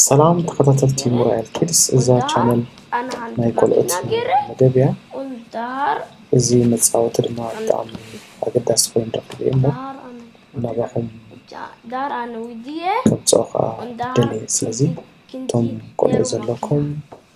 ሰላም ተኸታተልቲ ሙራኤል ኪድስ እዛ ቻነል ናይ ቆልዑት መደብ እያ እዚ መፃወቲ ድማ ብጣዕሚ ኣገዳሲ ኮይኑ ረክብ እሞ ናባኹም ከምፅኦ ከዓ ደልየ ስለዚ እቶም ቆልዑ ዘለኩም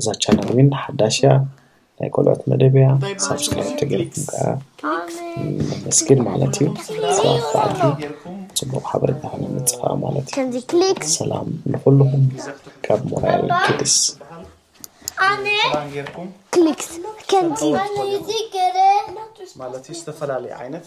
እዛ ቻነል ግን ሓዳሽ እያ ናይ ቆልዑት መደብ እያ ሳብስክራይብ ተገይርኩም ከዓ መስግን ማለት እዩ ሰባት በዓልቲ ፅቡቅ ሓበሬታ ከነምፅእ ከዓ ማለት እዩ ከምዚ ክሊክ ሰላም ንኩልኩም ካብ ሞራያል ኪድስ ክሊክ ከምዚ ማለት እዩ ዝተፈላለዩ ዓይነት